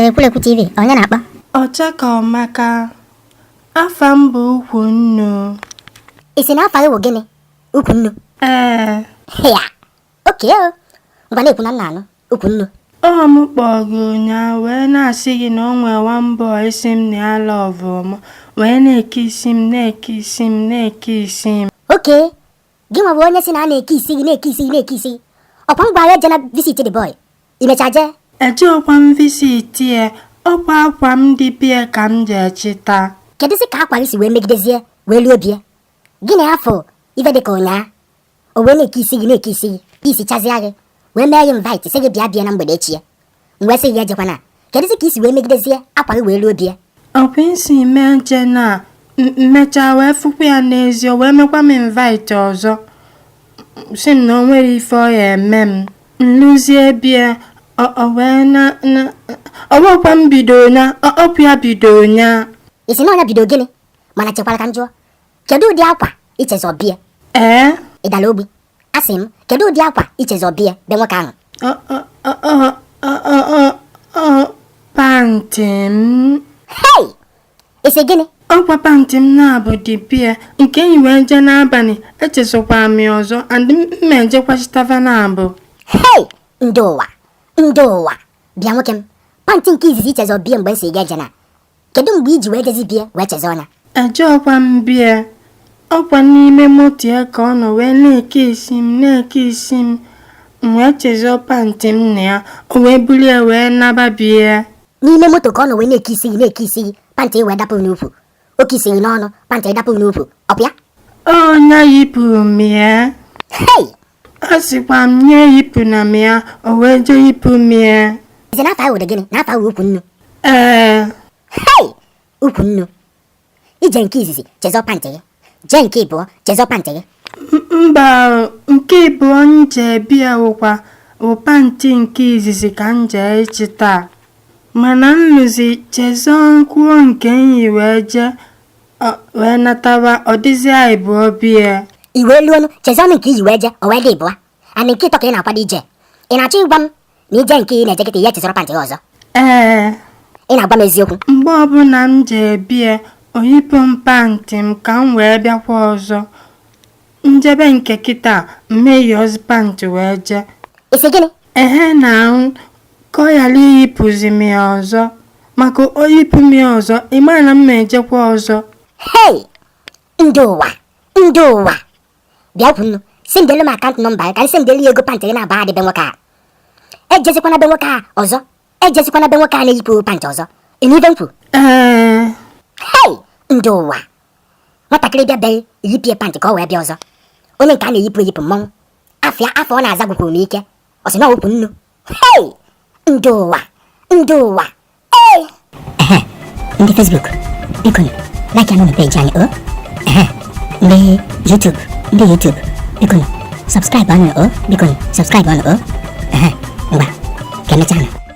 Ekwulekwu TV onye na-akpọ Ọchakaọmaka afa m bụ ukwu nnu ị sị na afa gị bụ gịnị ukwu nnu ee ya Okay o, ngwa na-ekwu na m na-anụ ukwu nnu. Ọ mụ kpọọ gị ụnyaahụ wee na-asị gị na o nwee one boy sị m na ya lọvụ m wee na-ekiss m na-ekiss m na-ekiss m. Okay, gị nwa bụ onye sị na a na-ekiss gị na-ekiss gị na-ekiss gị. Ọkwa m gwara ejena visit the boy. I mecha jee. Ejerọkwa m visit ya, ọkwa akwa m dị bie ka m jee ịchịta. Kedụzi ka akwa gị si wee megidezie wee luo bie? Ị na-afụ ife dị ka ụnyaa? o wee na-ekiss gị na-ekiss gị kisschazịa gị wee mee gị invite sị gị bịa bie na mgbede echi ya m wee sị gị ejekwana kedụzi ka i si wee megidezie akwa gị wee ruo bie ọkwa isi mee nche na m mechaa wee fụkwa ya n'ezi o wee mekwa m invite ọzọ sị m na o nwere ife ọ ya eme m m luzie bie o wekwa m bido na ọkwa ya bido nya ị sị na ọ nya bido gịnị mana chekwara ka m jụọ Kedu ụdị akwa ichezọ bie? Ee. Ị dara ogbi. Asị m, kedu ụdị akwa i chezọ bie be nwoke ahụ? Pantị m. Hei! Ị sị gịnị? Ọkwa pantị m naabọ dị bie nke m yi wee jee n'abanị echezọkwa m ọzọ and m ma ejekwa chịta va naabọ. Hei! Ndị ụwa! Ndị ụwa! Bịa nwoke m, pantị nke izizi i chezọ bie mgbe m sị gị ejena Kedu mgbe i ji wee jezie bie wee chezọ nya? Ejerọkwa m bie. Ọkwa n'ime moto ya ka ọ nọ wee na-ekiss m na-ekiss m. M wee chezọ pantị m na ya. O wee buru ya wee naba bie. N'ime moto ka ọ nọ wee na-ekiss gị na-ekiss gị pantị wee dapụ n'ukwu. O kiss gị n'ọnụ pantị dapụ n'ukwu. Ọ bụ ya? Ọ nya yipụrụ m ya. Hei! Asịkwa m nya eyipụna m ya, o wee jee yipụ m ya. Ị sị na afa gị bụdị gịnị? Na afa gị bụ ukwu nnu. Ee. Hei! Ukwu nnu. I jee nke izizi, chezọ pantị gị. Jee nke ịbụọ, chezọ pantị gị. Mba, nke ịbụọ m jee bie wụkwa wụ pantị nke izizi ka m jee ịchịta. Mana m luzie chezọkwuo nke m yi wee jee Ọ wee nataba ọ dịzịa ịbụọ bie. I wee luo nụ, chezọnụ nke i yi wee jee, o wee dị ịbụa. And nke ịtọ ka ị na-akwado ije. Ị na-achọ ịgwa m na ije nke ị na-eje kịta ị ya-echezọrọ pantị gị ọzọ. Ee, Ị na-agwa m eziokwu. mgbe ọbụla m jee bie, o yipụ m pantị m ka m wee bịakwa ọzọ. njebe nke kịta m ma eyi pant wee jee ị sị gịnị ehe na ahụ ka ọ ghara iyipụzi m ya ọzọ maka o yipụ m ya ọzọ ị ma na m ma ejekwa ọzọ hei ndị ụwa ndị ụwa bịakwanụ sendelu m akant nọmba ya ka anyị sendelu ya ego pantị gị na-aba adị be nwoke a ejezikwana be nwoke a ọzọ ejezikwana be nwoke a na-eyipụ pantị ọzọ ị nụ ihe m kwuru ee hei ndị ụwa nwatakịrị bịa be gị eyipụ ya pantị ka o wee bịa ọzọ onye nke a na-eyipụ eyipụ mmọnwụ afịa afọ ọ na-aza gwụkwara m ike ọ sị na okwu nnu hei ndị ụwa ndị ụwa ee ndị Facebook biko like anụ na peji anyị o ndị YouTube ndị YouTube biko subscribe anụ o biko subscribe anụ o ngwa ka emechaa